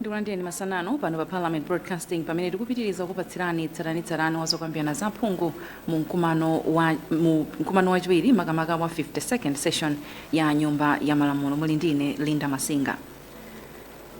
ndikulandireni masana ano pano pa Parliament Broadcasting pamene tikupitiriza kupatsirani tsatanitsatani wa zokambirana za phungu mu mkumano wachiwiri makamaka wa 52nd session ya nyumba ya malamulo muli ndine Linda Masinga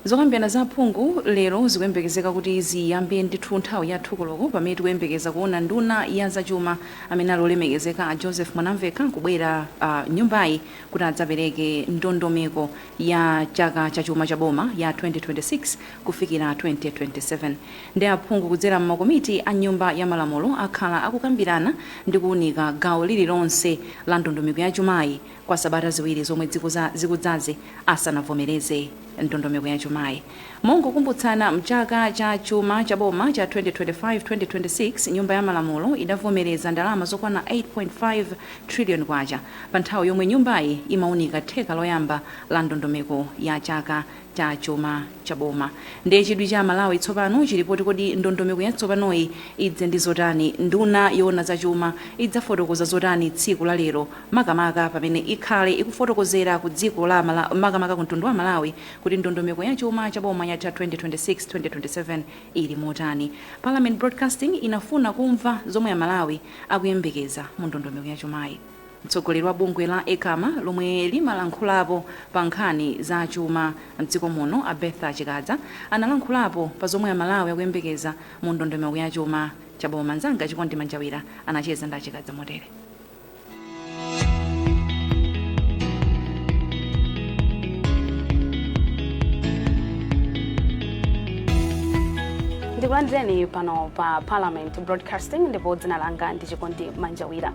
zokambirana za aphungu lero zikuyembekezeka kuti ziyambe ndithu nthawi ya thu koloko pamene tikuyembekeza kuona nduna ya zachuma amene ali olemekezeka a Joseph Mwanamvekha kubwera mnyumbayi kuti adzapereke ndondomeko ya chaka cha chuma cha boma ya 2026 kufikira 2027 ndi aphungu kudzera m'makomiti a Nyumba ya Malamulo akhala akukambirana ndi kuunika gawo lililonse la ndondomeko ya chumayi kwa sabata ziwiri zomwe zikudzazi asanavomereze ndondomeko ya chumayi. Mongokumbutsana mchaka cha chuma cha boma cha 2025 2026 nyumba ya malamulo idavomereza ndalama zokwana 8.5 trillion kwacha pa nthawi yomwe nyumbayi imaunika theka loyamba la ndondomeko ya chaka cha chuma cha boma ndiye chidwi cha amalawi tsopano chili poti kodi ndondomeko yatsopanoyi idze ndi zotani nduna yoona za chuma idzafotokoza zotani tsiku la lero makamaka pamene ikhale ikufotokozera ku dziko la makamaka ku mtundu wa amalawi kuti ndondomeko ya chuma cha boma ya chaka 2026, 2027 ili motani? Parliament Broadcasting inafuna kumva zomwe Amalawi akuyembekeza mu ndondomeko ya chumayi. Mtsogoleri wa bungwe la Ecama lomwe limalankhulapo pa nkhani za chuma m'dziko muno a Bertha Chikadza analankhulapo pa zomwe Amalawi akuyembekeza mu ndondomeko ya chuma cha boma. Mnzanga Chikondi Manjawira anacheza ndi a Chikadza motere. ndikulandireni pano pa parliament broadcasting ndipo dzina langa ndi chikondi manjawira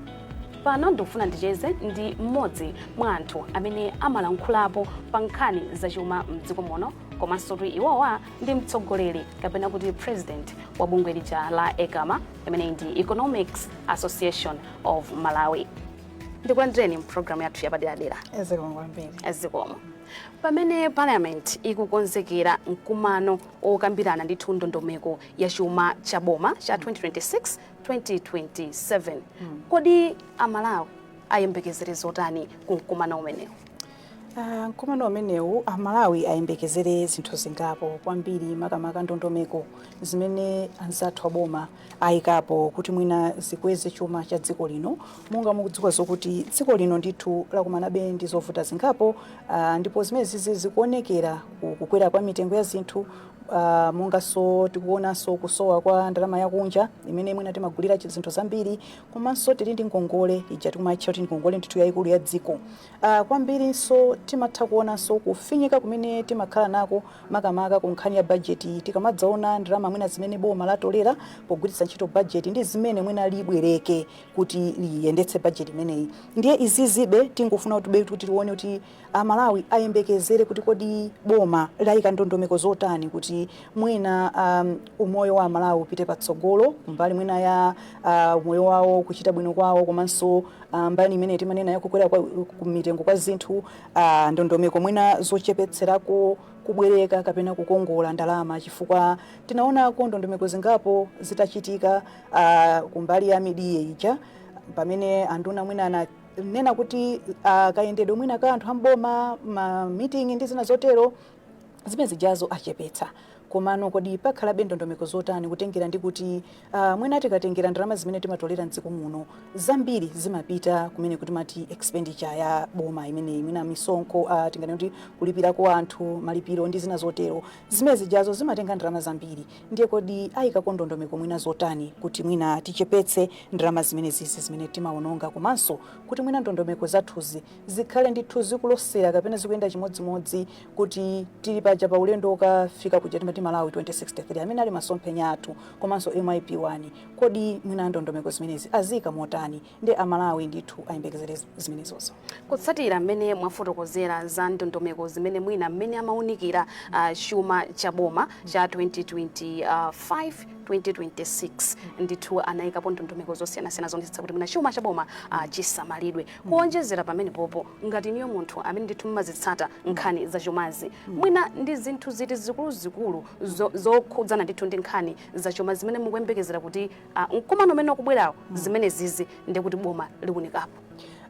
pano ndikufuna ndicheze ndi mmodzi mwa anthu amene amalankhulapo pa nkhani zachuma mdziko muno komanso kuti iwowa ndi mtsogoleri kapena kuti president wa bungwe lija la ecama imene ndi economics association of malawi ndikulandireni mpulogalamu yathu yapaderadera zikomo pamene parliament ikukonzekera mkumano okambirana ndithu ndondomeko ya chuma cha boma cha 2026 2027 mm. kodi amalawi ayembekezere zotani ku mkumano umenewu Ah, mkumano umenewu amalawi ayembekezere zinthu zingapo kwambiri makamaka ndondomeko zimene anzathu aboma ayikapo kuti mwina zikweze chuma cha dziko lino monga mukudziwa zokuti dziko lino ndithu lakumanabe ndi zovuta zingapo ah, ndipo zimenezizi zikuonekera ku- kukwera kwa mitengo ya zinthu ah, monganso tikuonanso kusowa kwa ndalama yakunja imene mwina timagulira chi- zinthu zambiri komanso tili ndi ngongole ija timaitcha kuti ngongole ndithu yayikulu ya dziko a Kwambirinso, timatha kuonanso kufinyika kumene timakhala nako makamaka ku nkhani ya bajeti tikamadzaona ndalama mwina zimene boma latolera pogwiritsa ntchito bajeti ndi zimene mwina libwereke kuti liyendetse bajeti imeneyi. Ndiye izizibe tingofuna kuti tione kuti Amalawi ayembekezere kuti kodi boma layika ndondomeko zotani kuti mwina a umoyo wa Amalawi upite patsogolo kumbali mwina ya a umoyo wawo, kuchita bwino kwawo komanso Ah, mbali imene timanena ya kukwera kwa mitengo kwa zinthu ah, ndondomeko mwina zochepetserako kubwereka kapena kukongola ndalama chifukwa tinaonako ndondomeko zingapo zitachitika ah, kumbali ya mid-year ija pamene anduna mwina ananena kuti ah, kayendedwe mwina ka anthu amboma ma meeting ndi zina zotero zimene zijazo achepetsa komano kodi pakhalabe ndondomeko zotani kutengera ndi kuti uh, mwina tikatengera ndalama zimene timatolera mdziko muno zambiri zimapita kumene timati expenditure ya boma imeneyi mwina misonkho uh, ah, tinganene kuti kulipirako anthu malipiro ndi zina zotero zimene zijazo zimatenga ndalama zambiri ndiye kodi ayikako ndondomeko mwina zotani kuti mwina tichepetse ndalama zimene zizi zimene timaononga komanso kuti mwina ndondomeko zathuzi zikhale ndithu zikulosera kapena zikuyenda chimodzimodzi kuti tili paja pa ulendo wokafika kuja timati malawi 2063 amene ali masomphenya athu komanso mip1 kodi mwina ndondomeko zimenezi aziyika motani ndi amalawi ndithu ayembekezere zi- zimenezozo kutsatira mmene mwafotokozera za ndondomeko zimene mwina mmene amaunikira ah, chuma cha boma cha 2025 2026 ndithu anayikapo ndondomeko zosiyanasiyana zoonetsetsa kuti mwina chuma cha boma ah, chisamalidwe Kuonjezera pamenepopo, ngati inuyo munthu amene ndithu mumazitsata nkhani za chumazi, mwina ndi zinthu ziti zikuluzikulu zo, zokhudzana ndithu ndi nkhani za chuma zimene mukuyembekezera kuti ah, mkumano umene ukubwerawo zimenezizi ndi kuti boma liunikapo?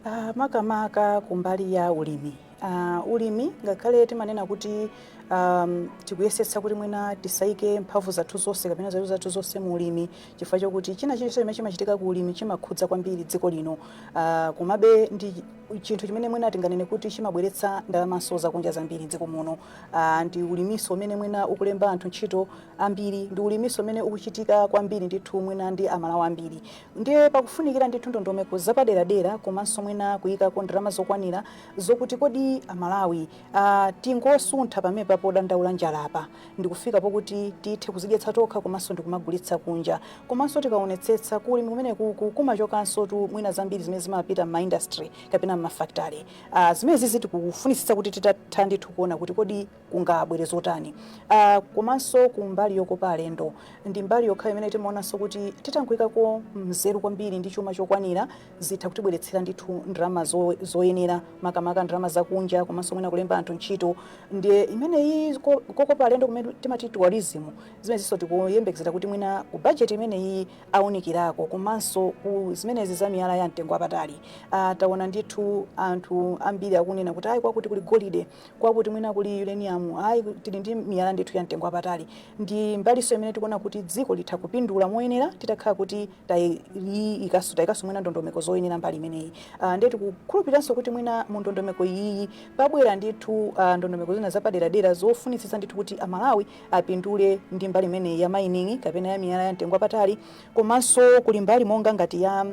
Ah, makamaka kumbali ya ulimi ah, ulimi ngakhale timanena kuti um, tikuyesetsa kuti mwina tisaike mphamvu zathu zonse kapena nzeru zathu zonse mu ulimi chifukwa chokuti china chilichonse chimene chimachitika ku ulimi chimakhudza kwambiri dziko lino uh, komabe ndi chinthu chimene mwina tinganene kuti chimabweretsa ndalamanso zakunja zambiri dziko muno uh, ndi ulimiso umene mwina ukulemba anthu ntchito ambiri ndi ulimiso umene ukuchitika kwambiri ndithu mwina ndi amalawi ambiri ndiye pakufunikira ndithu ndondomeko zapaderadera komanso mwina kuyikako ndalama zokwanira zokuti kodi amalawi uh, tingosuntha pamenepa podandaula njalapa ndikufika pokuti tithe kuzidyetsa tokha komanso ndikumagulitsa kunja. Komanso tikaonetsetsa ku ulimi kumenekuku kumachokansotu mwina zambiri zimene zimapita m'ma industry kapena m'ma factory. Ah, zimenezizi tikufunitsitsa kuti titatha ndithu kuona kuti kodi kungabwere zotani. Ah, komanso ku mbali yokopa alendo ndi mbali yokha imene timaonanso kuti titangoikako nzeru kwambiri ndi chuma chokwanira zitha kutibweretsera ndithu ndalama zo- zoyenera makamaka ndalama zakunja komanso mwina kulemba anthu ntchito ndiye imene iyi ko- kokopa alendo kumene timati tourism zimenezinso tikuyembekezera kuti mwina ku bajeti imene iyi aunikirako komanso ku zimenezi za miyala ya mtengo wapatali Ah, taona ndithu anthu ambiri akunena kuti ayi kwakuti kuli golide kwakuti mwina kuli uranium ayi ku- tili ndi miyala ndithu ya mtengo wapatali ndi mbalinso imene tikuona kuti dziko litha kupindula moyenera titakhala kuti tayikaso mwina ndondomeko zoyenera mbali imeneyi uh, ndiye tikukhulupiranso kuti mwina mu ndondomeko iyiyi pabwera ndithu uh, ndondomeko zina zapaderadera zofunitsitsa ndithu kuti amalawi apindule ndi mbali imeneyi ya mining kapena ya miyala ya mtengo wapatali komanso kuli mbali monga ngati ya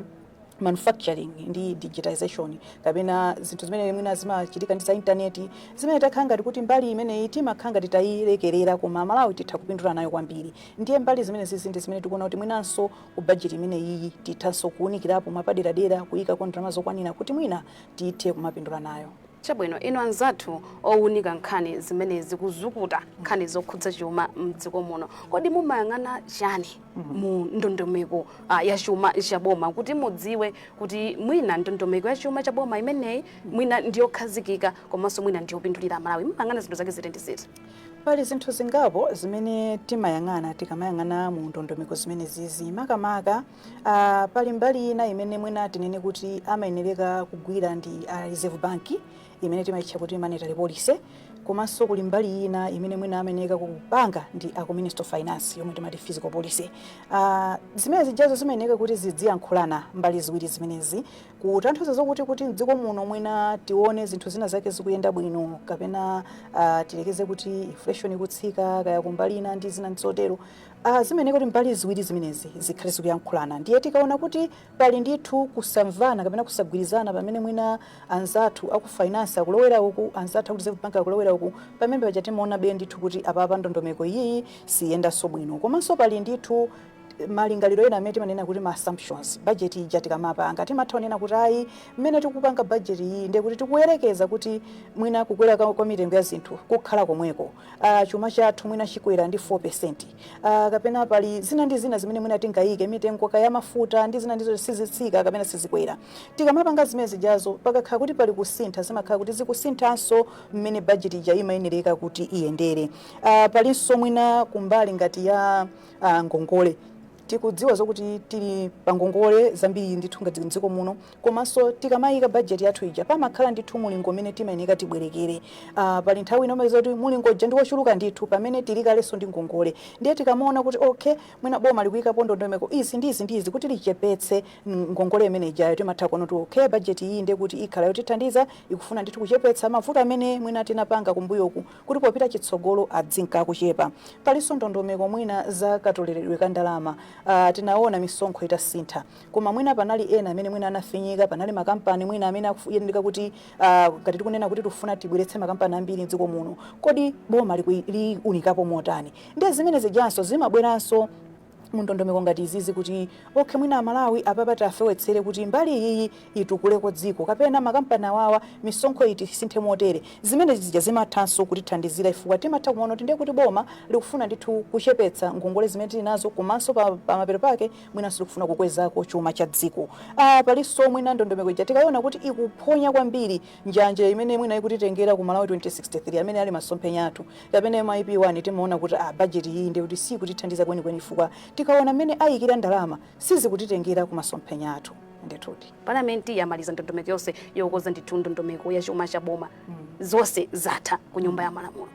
manufacturing ndi digitization kapena zinthu zimene mwina zimachitika ndi za intaneti zimene takhala ngati kuti mbali imeneyi timakhala ngati tayilekerera koma malawi titha kupindula nayo kwambiri ndiye mbali zimene zizi ndi zimene tikuona kuti mwinanso ku bajeti imeneyiyi tithanso kuwunikirapo mwapaderadera kuyikako ndalama zokwanira kuti mwina tithe kumapindula nayo chabwino inu anzathu owunika nkhani zimene zikuzukuta nkhani zokhudza chuma mdziko muno kodi mumayang'ana chani mu ndondomeko ah, ya chuma cha boma kuti mudziwe kuti mwina ndondomeko ya chuma cha boma imeneyi mwina ndiyokhazikika komanso mwina ndiyopindulira amalawi mumayang'ana zinthu zake ziti ndi ziti pali zinthu zingapo zimene timayang'ana tikamayang'ana mu ndondomeko zimene zizi makamaka ah, pali mbali ina imene mwina tinene kuti amayenereka kugwira ndi a reserve bank imene timaitcha kuti monetary policy, komanso kuli mbali ina imene mwina amayeneka kupanga ndi a ku Ministry of Finance yomwe timati fiscal policy. Ah, zimene zijazo zimayeneka kuti zidziyankhulana mbali ziwiri zimenezi kutanthauza zokuti kuti mdziko muno mwina tione zinthu zina zake zikuyenda bwino kapena ah, tiyerekeze kuti inflation ikutsika kaya kumbali ina ndi zina zotero. Ah, zimayeneka kuti mbali ziwiri zimenezi zikhale zikuyankhulana ndiye tikaona kuti Pali ndithu kusamvana kapena kusagwirizana pamene mwina anzathu aku finance akulowera uku, anzathu aku Reserve Bank akulowera uku, pamene paja timaonabe ndithu kuti apapa ndondomeko iyiyi siyendanso bwino. Komanso pali ndithu malingaliro ena amene timanena kuti ma assumptions. Budget ija tikamapanga timatha kunena kuti ayi mmene tikupanga budget iyiyi ndiye kuti tikuyerekeza kuti mwina kukwera kwa mitengo ya zinthu kukhala komweko, chuma chathu mwina chikwera ndi 4%. Uh, kapena pali zina ndi zina zimene mwina tingayike mitengo kaya mafuta ndi zina ndizo sizitsika kapena sizikwera tikamapanga zimene zijazo pakakhala kuti pali kusintha zimakhala kuti zikusinthanso mmene bajeti ija imayenereka kuti iyendere uh, palinso mwina kumbali ngati ya uh, ngongole tikudziwa zokuti tili pa ngongole zambiri ndithu ngati mdziko muno komaso tikamayika budget yathu ija pamakhala ndithu mulingo umene timayeneka tibwerekere aah pali nthawi ina umapeza zoti mulingo uja ndi wochuluka ndithu pamene tili kaleso ndi ngongole ndiye tikamaona kuti okay mwina boma likuyikapo ndondomeko izi ndi izi ndi izi kuti lichepetse ngongole imene ijayo timatha kuona kuti okay budget iyi ndiye kuti ikhala yotithandiza ikufuna ndithu kuchepetsa mavuto amene mwina tinapanga kumbuyoku kuti popita chitsogolo adzinka akuchepa paliso ndondomeko mwina za katoleledwe ka ndalama aah tinaona misonkho itasintha Koma mwina panali ena amene mwina anafinyika, panali makampani mwina amene akuyeneka kuti uh, ngati tikunena kuti tufuna tibweretse makampani ambiri mdziko muno, kodi boma liunikapo motani? Ndiye zimene zijanso zimabweranso mundondomeko ngati izizi kuti okay mwina amalawi apapa tafewetsere kuti mbali iyiyi itukuleko dziko kapena makampani awawa misonkho iti isinthe motere zimene zija zimathanso kutithandizira ifukwa timatha kumaona kuti ndiye kuti boma likufuna ndithu kuchepetsa ngongole zimene tili nazo komanso pa, pa mapeto pake mwinanso likufuna kukwezako chuma cha dziko ah, palinso mwina ndondomeko ija tikaiona kuti ikuphonya kwambiri njanje imene mwina ikutitengera ku malawi 2063 amene ali masomphenya athu kapena mip 1 timaona kuti ah, bajeti iyi ndiye kuti sikutithandiza kwenikweni chifukwa tikaona mmene ayikira ndalama sizikutitengera ku masomphenya athu ndithudi palamenti yamaliza ndondomeko yonse yokoza ndithu ndondomeko ya chuma cha boma zonse zatha ku nyumba ya malamulo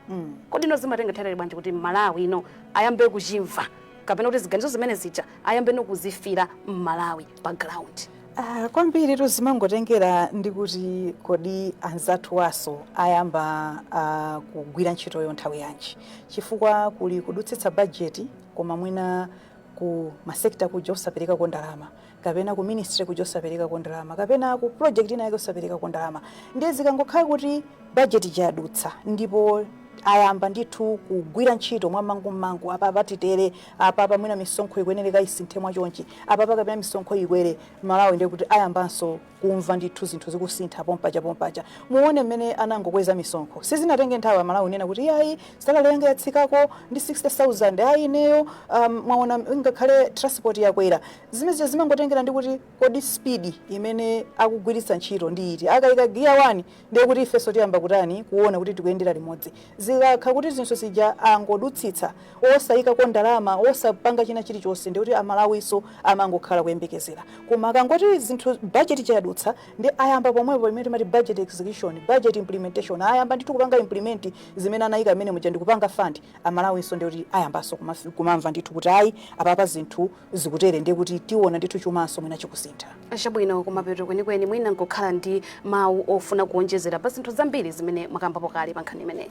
kodi ino zimatenga nthawi bwanji kuti mmalawi ino ayambe kuchimva kapena kuti ziganizo zimene zija ayambe nokuzifira mmalawi pa ground Ah, kwambiritu zimangotengera ndi kuti kodi anzathu awaso ayamba ah, kugwira ntchitoyo nthawi yanji chifukwa kuli kudutsitsa bajeti koma mwina ku masekta kuja osaperekako ndalama kapena ku ministry kuja osaperekako ndalama kapena ku project ina yake osaperekako ndalama ndiye zikangokhala kuti budget ija yadutsa ndipo ayamba ndithu kugwira ntchito mwamangummangu apapa titere apapa mwina misonkho ikuyenereka isinthe mwachonchi apapa kapena misonkho ikwere amalawi ndiye kuti ayambanso kumva ndithu zinthu zikusintha pompaja pompaja muone mmene anangokweza misonkho sizinatenge nthawi amalawi kunena kuti ayi salary yanga yatsikako ndi 60000 ayi ineyo um, mwaona ngakhale transport yakwera zimene zija zimangotengera ndi kuti kodi speed imene akugwiritsa ntchito ndi iti akayika giya wani ndiye kuti ifenso tiyamba kutani kuona kuti tikuyendera limodzi zikakha kuti zinthu zija angodutsitsa osayikako ndalama osapanga china chilichonse ndiye kuti amalawinso amangokhala kuyembekezera koma akangoti zinthu budget ija yadutsa ndi ayamba pomwepo imene timati budget execution budget implementation ayamba ndithu kupanga implement zimene anayika mmenemuja ndikupanga fund amalawinso ndiye kuti ayambanso kumafi- kumamva ndithu kuti ayi apapa zinthu zikutere ndiye kuti tiona ndithu chumacho mwina chikusintha. Chabwino, kumapeto kwenikweni mwina mungakhale ndi mawu ofuna kuonjezera pa zinthu zambiri zimene mwakambapo kale pa nkhani imeneyi.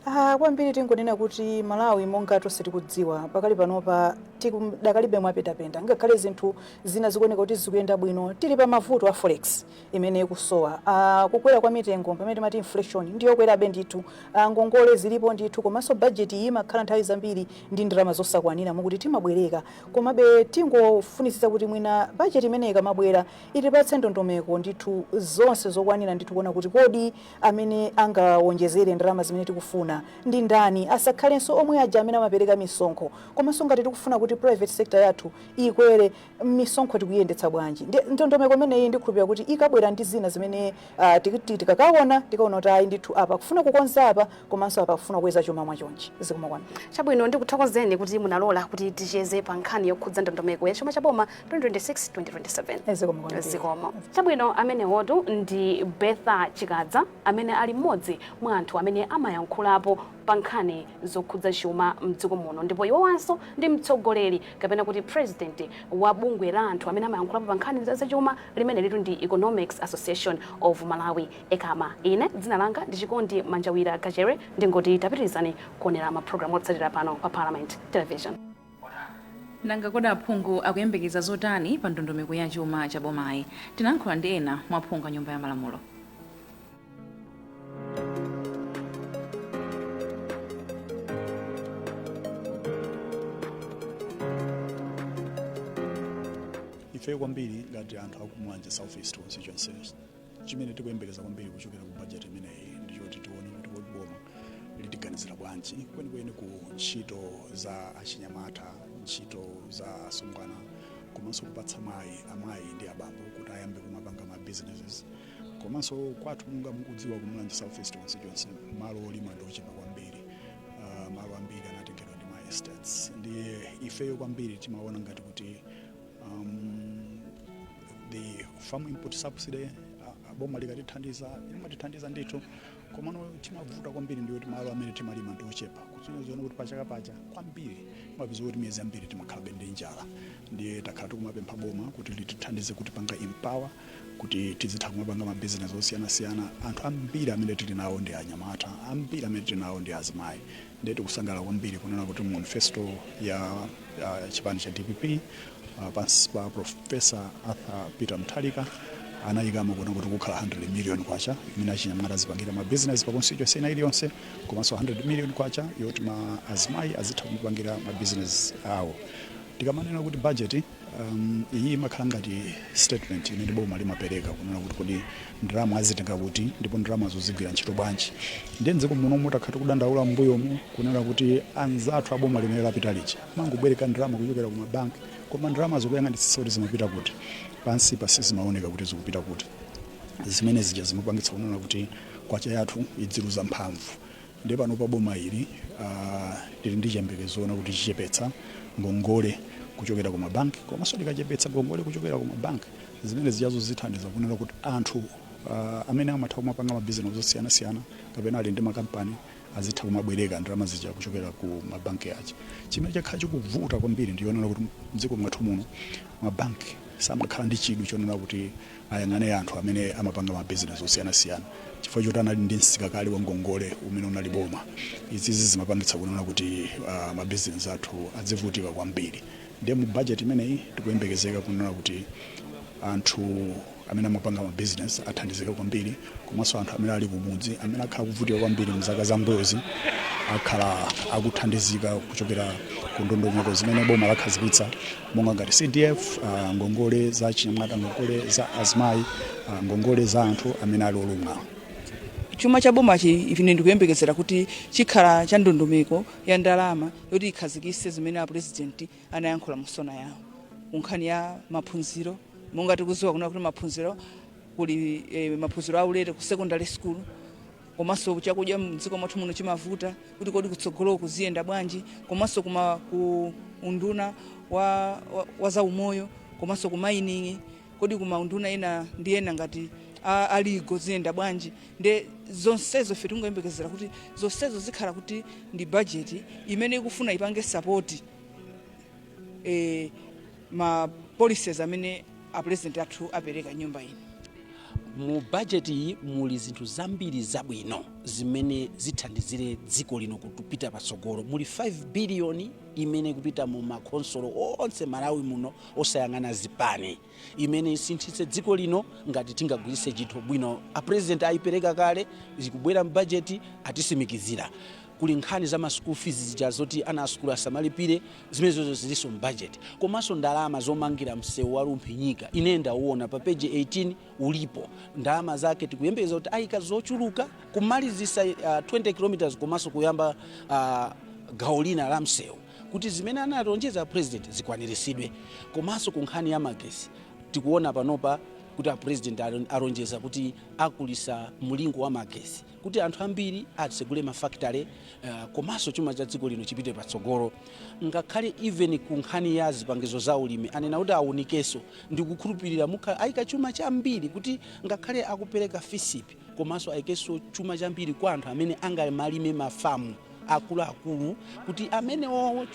Ah, kwambiri tingonena kuti Malawi monga tonse tikudziwa pakali panopa tidakalibe mwapendapenda ngakhale zinthu zina zikuoneka kuti zikuyenda bwino tili pa mavuto a forex imene ikusowa. A, kukwera kwa mitengo pamene timati inflation ndi yokwerabe ndithu. A, ngongole zilipo ndithu komanso budget iyi imakhala nthawi zambiri ndi ndalama zosakwanira moti timabwereka. Komabe tingofunitsitsa kuti mwina budget imene ikamabwera itipatse ndondomeko ndithu zonse zokwanira ndithu kuona kuti kodi amene angawonjezere ndalama zimene tikufuna ndi ndani, asakhalenso omwe aja amene amapereka misonkho. Komanso ngati tikufuna kuti private sector yathu ikwere, misonkho tikuiyendetsa bwanji ndondomeko imeneyi ndikhulupirira kuti ikabwera ndi zina zimene ah, tiki- ti- tikakaona tikaona kuti ayi ndithu apa kufuna kukonza apa komanso apa kufuna kukweza chuma mwachonchi zikomo kwambiri chabwino ndikuthokozeni kuti munalola kuti ticheze pa nkhani yokhudza ndondomeko ya chuma cha boma 2026-2027 zikomo kwambiri zikomo chabwino amenewotu ndi Bertha Chikadza amene ali mmodzi mwa anthu amene amayankhulapo pa nkhani zokhudza chuma mdziko muno ndipo iwowanso ndi mtsogoleri kapena kuti president wa bungwe la anthu amene amayankhulapo pa nkhani za chuma limenelitu ndi Economics Association of Malawi, Ecama. Ine dzina langa ndi Chikondi Manjawira Kachere ndingoti tapitirizani kuonera ma program otsatira pano pa Parliament Television. Nanga kodi aphungu akuyembekeza zotani pa ndondomeko ya chuma cha bomayi? Tinayankhula ndi ena mwa aphungu a Nyumba ya Malamulo. ife kwambiri ngati anthu aku Mulanje South East constituency chimene tikuyembekezera kwambiri kuchokera ku bajeti imeneyi ndi choti tione kuti kodi boma litiganizira bwanji kwenikweni ku ntchito za achinyamata ntchito za asungwana komanso kupatsa mayi amayi ndi abambo kuti ayambe kumapanga ma businesses komanso kwathu monga mukudziwa ku Mulanje South East constituency malo olima ndi ochepa kwambiri uh, malo ambiri anatengedwa ndi ma estates ndiye ifeyo kwambiri timaona ngati kuti um, the farm input subsidy uh, boma likatithandiza limatithandiza ndithu komano chimavuta kwambiri ndi choti malo amene timalima ndi ochepa kusonyeza kuti pachaka paja kwambiri timapezeka kuti miyezi yambiri timakhalabe ndi njala ndiye takhala tikumapempha boma kuti litithandize kutipanga empower kuti tizitha kumapanga mabizinesi osiyanasiyana anthu ambiri amene tili nawo ndi anyamata ambiri amene tili nawo ndi azimayi Ndiye tikusangalala kwambiri kunena kuti mu manifesto ya ya chipani cha dpp ah, pansi pa profesa arthur peter mutharika anayikamo kuna kuti kukhala 100 million kwacha imene achinyamata azipangira ma business pa constituency ina iliyonse komanso 100 million kwacha yoti ma azimayi azitha kupangira ma business awo tikamanena kuti budget Um, iyi imakhala ngati statement imene boma limapereka kunena kuti kodi ndalama azitenga kuti ndipo ndalama zo zigwira ntchito bwanji ndiye mdziko muno takhala tikudandaula mbuyomu kunena kuti anzathu aboma limene lapita lija amangobwereka ndalama kuchokera ku mabanki koma ndalama zo ukayang'anitsitsa kuti zimapita kuti pansi pa sizimaoneka kuti zikupita kuti zimene zija zimapangitsa kunena kuti kwacha yathu idziluza mphamvu ndiye panopa boma ili uh, lili ndi chiyembekezo chonena kuti lichepetsa ngongole kuchokera ku mabanki komanso likachepetsa ngongole kuchokera ku mabanki zimene zijazo zithandiza kunena kuti anthu uh, amene amatha kumapanga mabizinesi osiyanasiyana kapena ali ndi makampani azitha kumabwereka ndalama zija kuchokera ku mabanki aja chimene chakhala chikuvuta kwambiri ndi chonena kuti mdziko mwathu muno mabanki samakhala ndi chidwi chonena kuti ayang'ane anthu amene amapanga ma business osiyanasiyana chifukwa choti anali ndi msika kale wa ngongole umene unali boma izizi zimapangitsa kunena kuti uh, ma business athu adzivutika kwambiri ndiye mu budget imeneyi tikuyembekezeka kunena kuti anthu amene amapanga ma business athandizika kwambiri komanso anthu amene ali kumudzi amene akhala akuvutika kwambiri mzaka zambuyozi akhala akuthandizika kuchokera ku ndondomeko zimene boma lakhazikitsa monga ngati cdf uh, ngongole za achinyamata ngongole za azimayi uh, ngongole za anthu amene ali olumala chuma cha bomachi ine ndikuyembekezera kuti chikhala cha ndondomeko ya ndalama yoti ikhazikise zimene apurezidenti anayankhula mu sona yawo kunkhani ya maphunziro monga tikuziwa kuna kuti maphunziro kuli eh, maphunziro aulere ku secondary school komanso chakudya mdziko mwathu muno chimavuta kuti kodi kutsogoloku ziyenda bwanji komanso kuma ku unduna wa, wa, wa za umoyo komanso ku mining kodi kuma unduna ena ndi yena ngati a- aligo ziyenda bwanji nde zonsezo ife tingoyembekezera kuti zonsezo zikhala kuti ndi bajeti imene ikufuna ipange sapoti eh, ma policies amene a president athu apereka nyumba ino mu bajeti iyi muli zinthu zambiri zabwino zimene zithandizire dziko lino kupita patsogolo muli 5 biliyoni imene ikupita mu makhonsolo onse malawi muno osayang'ana zipani imene isinthitse dziko lino ngati tingagwiritse ntchito bwino. A president ayipereka kale, zikubwera m'bajeti atisimikizira. Kuli nkhani za ma school fees zija zoti ana a sukulu asamalipire, zimenezozo zilinso m'bajeti. Komanso ndalama zomangira msewu wa Rumphi-Nyika, ine ndawona pa page 18 ulipo. Ndalama zake tikuyembekeza kuti ayika zochuluka kumalizitsa ah, 20 kilometers komanso kuyamba ah, gawo lina la msewu. kuti zimene analonjeza a president zikwanirisidwe komanso ku nkhani ya magesi tikuona panopa kuti a president alon- alonjeza kuti akulisa mlingo wa magesi kuti anthu ambiri atsegule mafakitale uh, komanso chuma cha dziko lino chipite patsogolo ngakhale even ku nkhani ya zipangizo za ulimi anena kuti awunikenso ndikukhulupirira mukhala ayika chuma chambiri kuti ngakhale akupereka FISP komanso aikeso chuma chambiri kwa anthu amene angamalime mafamu akuluakulu kuti amenewo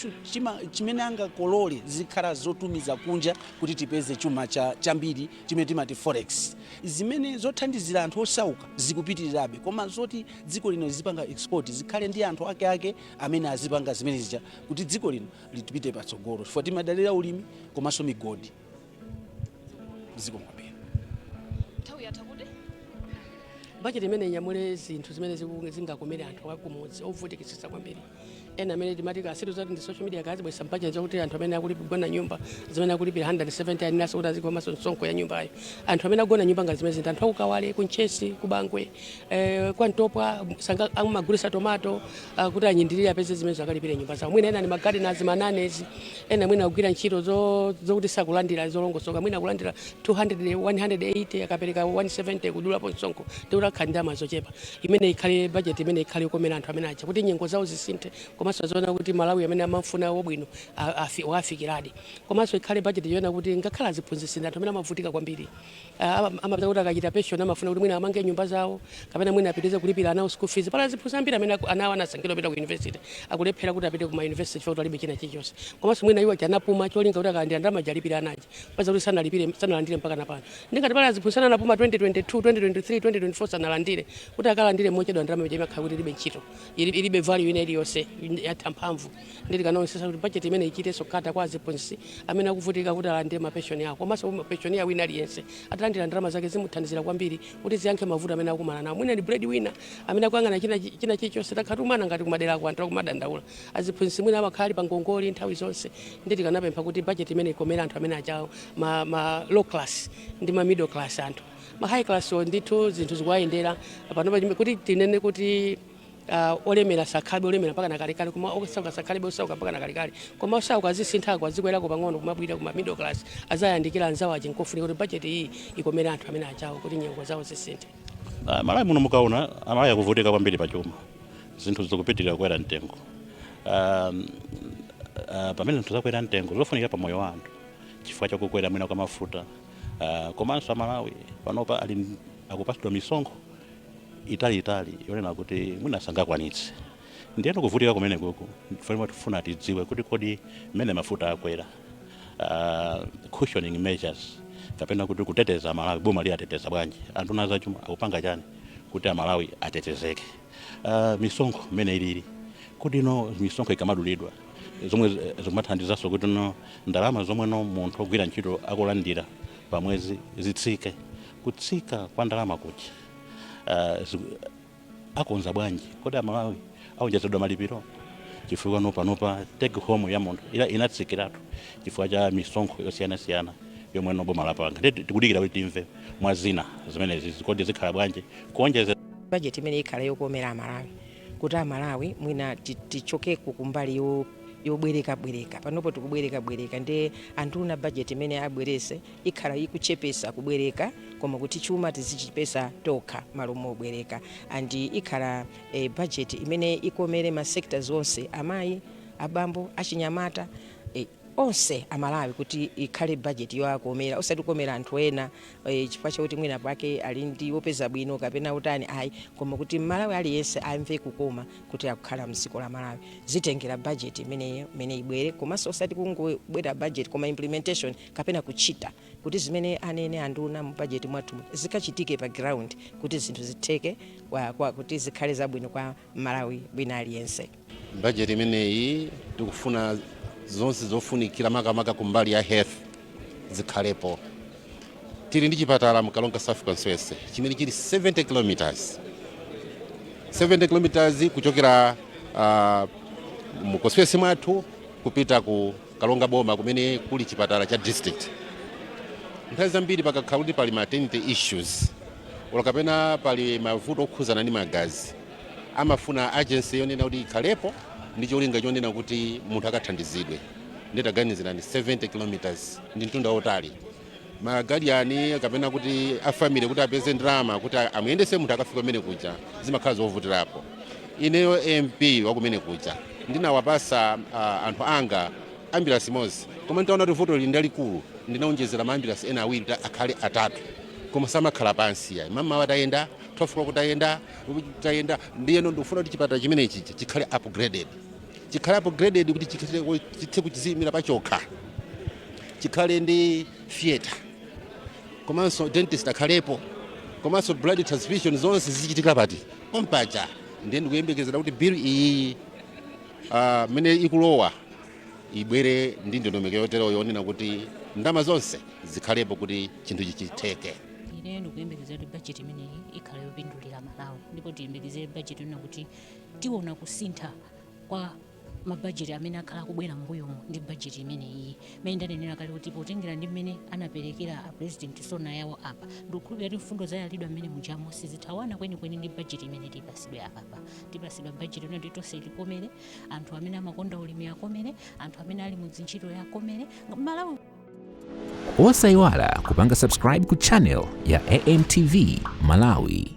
chimene angakolole zikhala zotumiza kunja kuti tipeze chuma cha, chambiri chimene timati forex zimenezo zothandizira anthu osauka zikupitirirabe koma zoti dziko lino lizipanga export zikhale ndi anthu ake ake amene azipanga zimene zija kuti dziko lino lipite patsogolo chifukwa timadalira ulimi komanso migodi zikomo kwambiri nthawi yatha kuti bajeti imene inyamule zinthu zimene ziku- zingakomere anthu akumudzi ovutikitsitsa kwambiri ena amene timati kasitu zati ndi social media akazibweretsa m'bajeti zakuti anthu amene akulipira nyumba zimene akulipira 170 ati nawonso kuti azikhomanso msonkho wa nyumbayo anthu amene agona nyumba ngati zimenezi ndi anthu a ku Kawale ku Mchesi ku Bangwe eh, kwa Ntopwa anzanga amagulisa tomato ah, kuti ayindirire apeze zimene akalipira nyumba zawo mwina ena ni magardeners mananny ena mwina akugwira ntchito zo- zokuti sakulandira zolongosoka mwina akulandira 200 180 akapereka 170 kudulapo msonkho ndikuti akhala ndi ndalama zochepa imene ikhale budget imene ikhale yokomera anthu amene aja kuti nyengo zawo zisinthe komanso aziona kuti Malawi amene amafuna wabwino a- afi- wafikiradi komanso ikhale budget yoona kuti ngakhale aziphunzitsi ndi anthu amene amavutika kwambiri a- ama- amapeza kuti akachita pension amafuna kuti mwina amange nyumba zawo kapena mwina apitirize kulipira ana school fees pali aziphunzitsi ambiri amene aku- ana awo anasankhidwa kupita ku university akulephera kuti apite ku ma university chifukwa kuti alibe china chilichonse komanso mwina iwo anapuma cholinga kuti akalandira ndalama aja alipire ana aja kupeza kuti sanalipire sanalandire mpaka napano ndingati pali aziphunzitsi ena anapuma 2022 2023 2024 sanalandire kuti akalandire mochedwa ndalama ija imakhala kuti ilibe ntchito ili- ilibe value ina iliyonse yatha mphamvu Nde tikanaonetsetsa kuti budget imeneyi ichitenso cater kwa aziphunzitsi amene akuvutika kuti alandire ma pension awo komanso kuti pensioner wina aliyense atalandira ndalama zake zimuthandizira kwambiri kuti ziyankhe mavuto amene akukumana nawo. Mwina ndi breadwinner amene akuyang'ana china chilichonse takhala tikumana ngati kumaderako anthu akumadandaula. Aziphunzitsi mwina amakhala ali pa ngongole nthawi zonse. Nde tikanapempha kuti budget imeneyi ikomere anthu amene ajawo ma, ma low class ndi ma middle class anthu. Ma high class wo ndithu zinthu zikuwayendera panopa kuti tinene kuti Uh, olemera sakhalebe olemera mpaka nakalekale koma osauka sakhalebe osauka mpaka nakalekale koma osauka azisinthako azikwerako pang'ono kumabwera kuma middle class aziyandikira anzawo aja nkofunika kuti bajeti iyi ikomere anthu amene achawo kuti nyengo zawo zisinthe uh, malawi muno mukaona amalawi akuvutika kwambiri pa chuma zinthu zikupitirira kukwera mtengo uh, uh, pamene zinthu zakwera mtengo zofunikira pa moyo wa anthu chifukwa chakukwera mwina kwa mafuta uh, komanso amalawi panopa ali akupatsidwa misonkho italiitali yonena kuti mwina sangakwanitse ndiyeno kuvutika kumene kukufunika tifuna tidziwe kuti kodi mmene mafuta akwera uh, cushioning measures kapena kuti kuteteza amalawi boma liwateteza bwanji anduna a zachuma akupanga chani kuti amalawi atetezeke uh, misonkho mmene ilili kuti no misonkho ikamadulidwa zomwe zi- zimathandizanso kuti no ndalama zomwe no munthu ogwira ntchito akulandira pamwezi zitsike kutsika kwa ndalama kuja uh, akonza bwanji kodi amalawi aonjezedwa malipiro chifukwa nopanopa take home ya munthu inatsikiratu chifukwa cha misonkho yosiyanasiyana yomwe noboma lapanga nde tikudikira kuti timve mwa zina zimenezi kodi zikhala bwanji kuonjezera bajeti imene ikhala yokomera amalawi kuti amalawi mwina tichokeko kumbali yo yobwereka bwereka panopo tikubwereka bwereka nde anduna bajeti imene abweretse ikhala ikuchepetsa kubwereka koma kuti chuma tizichipeza tokha malo mobwereka and ikhala a budget imene ikomere ma sectors onse amayi abambo achinyamata eh, onse amalawi kuti ikhale budget yowakomera osati kukomera anthu ena eh, chifukwa chakuti mwina pake ali ndi wopeza bwino kapena utani ayi koma kuti mmalawi aliyense amve kukoma kuti akukhala mdziko la malawi zitengera budget imeneyo imene ibwere komanso osati kungobwera budget koma implementation kapena kuchita kuti zimene anene anduna mu bajeti mwathu mu- zikachitike pa ground kuti zinthu zitheke kwa, kwa, kuti zikhale zabwino kwa mmalawi wina aliyense bajeti imeneyi tikufuna zonse zofunikira makamaka kumbali ya health zikhalepo tili ndi chipatala mkaronga south constituency chimene chili 70 kilometers 70 kilometers kuchokera uh, mu constituency mwathu kupita ku Karonga boma kumene kuli chipatala cha district nthawi zambiri pakakhala kuti pali maternity issues olo kapena pali mavuto okhuzana ndi magazi amafuna urgency yonena kuti ikhalepo ndi cholinga chonena kuti munthu akathandizidwe nde taganizirani 70 kilometers ndi mtunda wautali magadyani kapena kuti afamily kuti apeze ndalama kuti amuyendese munthu akafika kumene kuja zimakhala zovutirapo ineyo mp wakumene kuja ndinawapasa uh, anthu anga ambulance imodzi koma nditaona kuti vuto lili ndalikulu ndinaonjezera ma ambulance ena awiri akhale atatu koma samakhala pansi ayi mmawa tayenda 12 tayenda tayenda ndiyeno ndikufuna kuti chipatala chimenechi chikhale upgraded chikhale upgraded kuti chithe kuchiziyimira pachokha chikhale ndi theater komanso dentist akhalepo komanso blood transfusion zonse zichitika pa- pompaja ndiye ndikuyembekezera kuti bill iyi ah, mmene ikulowa ibwere ndi ndondomeko yotero yonena kuti ndalama zonse zikhalepo kuti chinthu chichitheke ine ndikuyembekezera kuti bajeti imeneyi ikhala yopindulira malawi ndipo tiyembekezere bajeti yonena kuti tiona kusintha kwa mabajeti amene akhala akubwera mbuyomu ndi bajeti imeneyi mmene ndanenera kale kuti potengera ndi mmene anaperekera a president sona yawo apa ndikukhulupira kuti mfundo zayalidwa mmene mujamo sizithawana kwenikweni ndi bajeti imene tipasidwe apapa tipasidwa bajeti yonena kuti tonse tikomere anthu amene amakonda ulimi akomere anthu amene ali mu dzintchito akomere malawi osayiwala kupanga subscribe ku channel ya amtv malawi